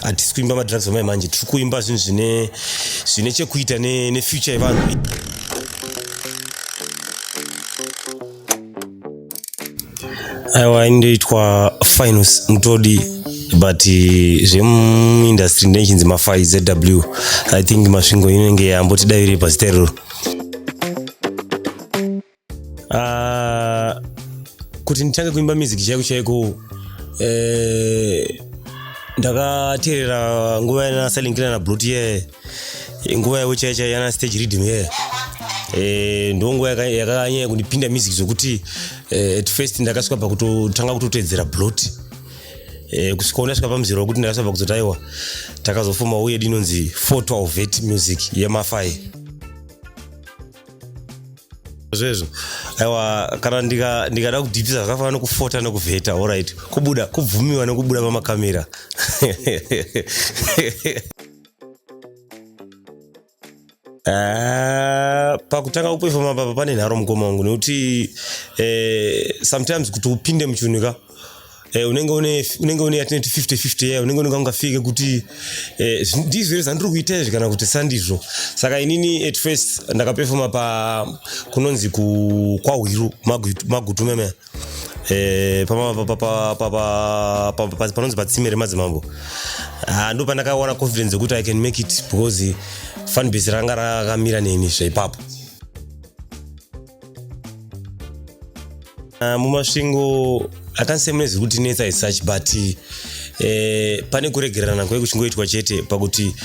hatisi kuimba madrugs amai manje tiri kuimba zvinhu zvine zvine chekuita nefuture yevanhu aiwa inoitwa finus mutodi but eh, zvemuindustry ndechinzi mafai zw i think masvingo inenge yambotidaviri pazita iroro Uh, kuti nditange kuimba music chaiko chaiko uh, eh, ndakateerera nguva yana selling kila na brut ye nguva yavo chaicha yana stage reading ye yeah. Eh, ndonguva yakanyanya kundipinda music zvokuti eh, at first ndakasvika pakutotanga kutotedzera blot eh, kusvika ndasvika pamuzero wekuti ndakasvika pakuzoti aiwa takazofuma uye dinonzi 412 vet music yemafai zvezvo aiwa kana ndikada ndika kudhipisa zvakafanana nokufota nokuvheta orit kubuda kubvumiwa nokubuda pamakamera Ah, pakutanga kupefoma papa pane nharo mukoma wangu nekuti eh, sometimes kuti upinde muchiunika Eh, unenge une unenge une yatinoti 50 50 yeah, unenge unenge ungafike kuti eh, ndizvo here zvandiri kuita izvi kana kuti sandizvo saka inini at first ndakapefoma pa kunonzi ku kwahwiru magutu meme eh, panonzi patsime remadzimambo ah, ndo pandakawana confidence yekuti i can make it because fanbase ranga rakamira neni zvaipapo Ah, mumasvingo i can't say mune zviri kutinetsa as such but eh, pane kuregererana kwave kuchingoitwa chete pakuti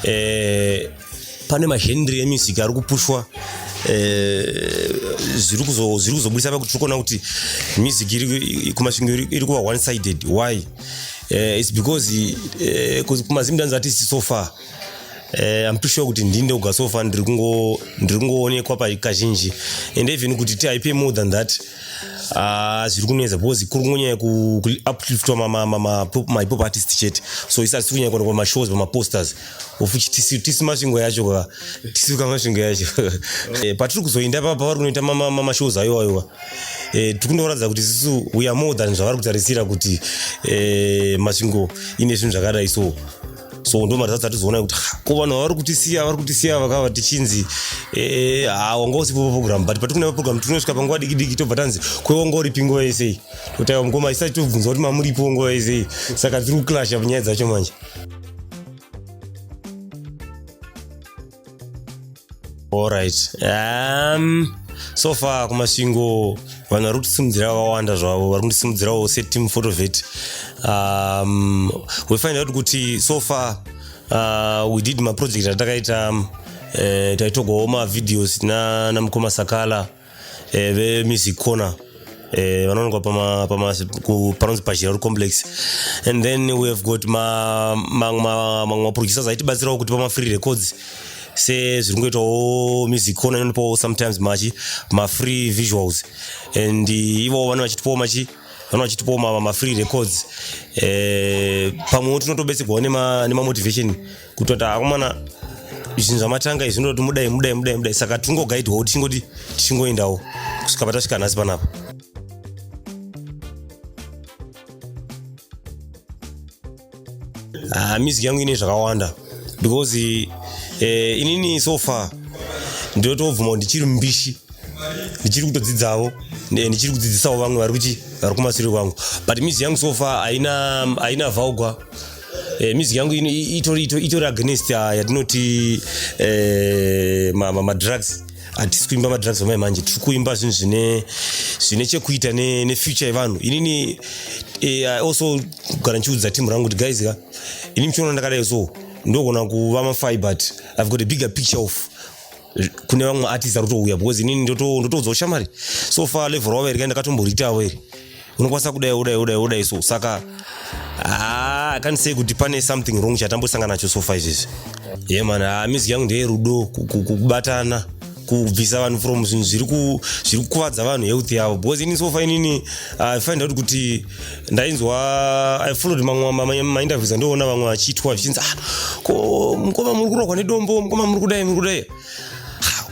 eh, pane mahenry emusic ari kupushwa eh, zviri kuzo- zviri kuzobudisa pakuti tiri kuona kuti music iri- kumasvingo iri- iri kuva one sided why Eh, its because eh, 'cause kumazimdanzi atisi so far Eh, I'm pretty sure kuti ndini ndoga so far ndiri kungo ndiri kungoonekwa pa kazhinji and even kuti ti pay more than that ah zviri kunetsa because kuri kungonyanya ku ku upliftwa ma ma ma ma pop- my pop artist chete so isa tiri kunyanya kuonekwa ma shows ma posters of which tisi tisi masvingo yacho ka tisi ka masvingo yacho eh patiri kuzoinda pa pavari kunoita ma ma ma- ma shows ayo ayo eh tiri kundoratidza kuti sisu we are more than zvavari kutarisira kuti eh masvingo ine zvinhu zvakadai so so ndomaridza dzati zoona kuti ko vanhu vavari kutisiya vari kutisiya vakava tichinzi eh, ha wanga usipo paprogram but patikuna paprogram tinosvika panguva dikidiki tobva tanzi kwewanga uripi nguva yesei totaiwa mukoma isati tobvunza kuti mamuripo nguva yesei saka dziri kuclasha nyaya dzacho manje Alright. Um, so far kumasvingo vanhu vari kutisimudzira vakawanda zvavo vari kundisimudzirawo seteam photovet um, we find out kuti so far uh, we did maproject atakaita um, eh, taitogawo mavideos namukoma sakala eh, vemusic corner eh, vanowanikwa pama, pama, ku- panonzi pachiraro complex and then we have got ma- ma- ma- mamwe maproducers aitibatsirawo kuti pamafree records sezviri kungoitawo music corner inonipawo sometimes machi mafree visuals and eh, ivowo vane vachitipawo machi vana vachitipawo ma- mafree records eh, pamwewo tinotobetserwawo nema- nemamotivation kutoti akomana zvinhu zvamatanga izvi zvinototi mudai mudai mudai mudai saka tingogaidwawo tichingoti tichingoendawo kusvika patasvika nhasi panapa ah, music yangu ine zvakawanda because eh, inini so far ndinotobvuma kuti ndichiri mbishi ndichiri kutodzidzavo ndichiri kudzidzisawo vamwe vari kuchi vari kumasure kwangu but mizi yangu sofa haina haina vaugwa Eh, music yangu ino i- itori itori- itori against ah, yatinoti eh, ma- ma- madrugs hatisi kuimba madrugs vamai manje tiri kuimba zvinhu zvine zvine chekuita ne- nefuture yevanhu inini eh, I also gara ndichiudza timu rangu kuti guys ka ini muchiona ndakadai so ndogona kuva mafai but i've got a bigger picture of kune vamwe artist ari kutouya because inini ndotoudza ushamari so far level ravo iri kai ndakatomboritawo iri unokwanisa kudai udai udai udai so saka ah, i can't say kuti pane something wrong chatambosangana nacho so far izvezvi ye man ah, music yangu ndeye rudo kubatana kubvisa vanhu from zvinhu zviri kukuvadza vanhu health yavo because ini so far inini ah, i find out kuti ndainzwa i followed mamwe mainterviews andiona vamwe vachiitwa zvichinzi ah, ko mukoma muri kurogwa nedombo mukoma muri kudai muri kudai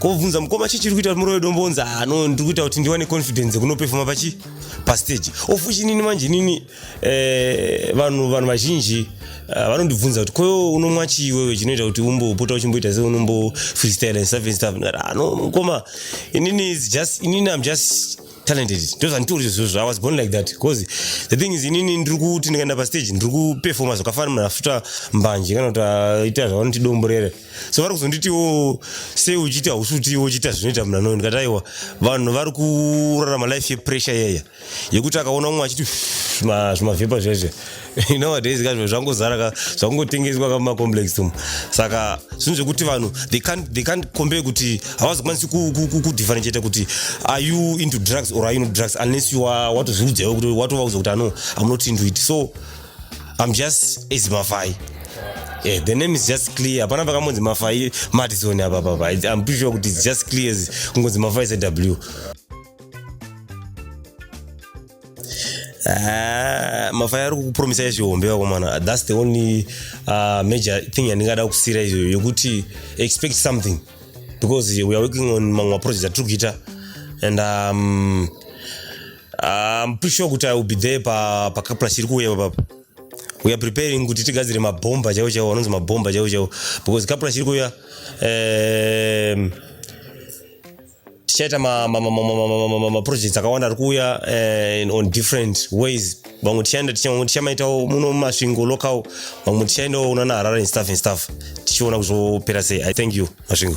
kobvunza mukoma chii chiri kuita kuti muroye dombonza hano ndiri kuita kuti ndiwane confidence yekunopefoma pachi pastage of which inini manje inini eh, vanhu vanhu vazhinji eh, vanondibvunza kuti koyo unomwa chii wewe chinoita kuti umbopota uchimboita se unombo freestyle and stuff and stuff ndikati hano mukoma inini is just inini am just talented ndozvanditori zvozvo i was born like that because the thing is inini ndiri kuti ndikaenda pastage ndiri kuperfoma zvakafanira munhu afuta mbanje kana kuti aita zvavanoti domborere so vari kuzonditiwo sei uchiita hausi utiwo uchiita zvinoita munhu anoyo ndikati aiwa vanhu vari kurarama life yepressure yeya yekuti akaona umwe achiti zvimavhepa zvezve you know nowadays ka zvinhu zvangozara ka zvakungotengeswa ka mumacomplex umu saka zvinhu zvekuti vanhu they can't, they can't compare kuti havazokwanisi kudifferentiata kuti are you into drugs or are you not drugs unless you are watozviudzaiwo kuti watova kuza kuti ano am not into it so i'm just as mafai Yeah, the name is just clear hapana pakangonzi mafai madison apa papa i'm pretty sure kuti it's just clear kungonzi mafai sew Ah, mafaya ari kukupromisa izvihombe vakomana thats the only uh, major thing yandingada kusira izvoyo yokuti expect something because we are working on mamwe maproject atiri kuita and um, um, pretty sure kuti i will be there pacapla chiri kuuya papapa we are preparing kuti tigadzire mabhomba chaivo chaivo anonzi mabhomba chaivo chaivo because capla chiri kuuya um, tichaita maprojects akawanda ari kuuya eh, on different ways vamwe tichaenda vamwe tichamaitawo muno mumasvingo local vamwe tichaendawo unana harare and stuff and stuff tichiona kuzopera sei i thank you masvingo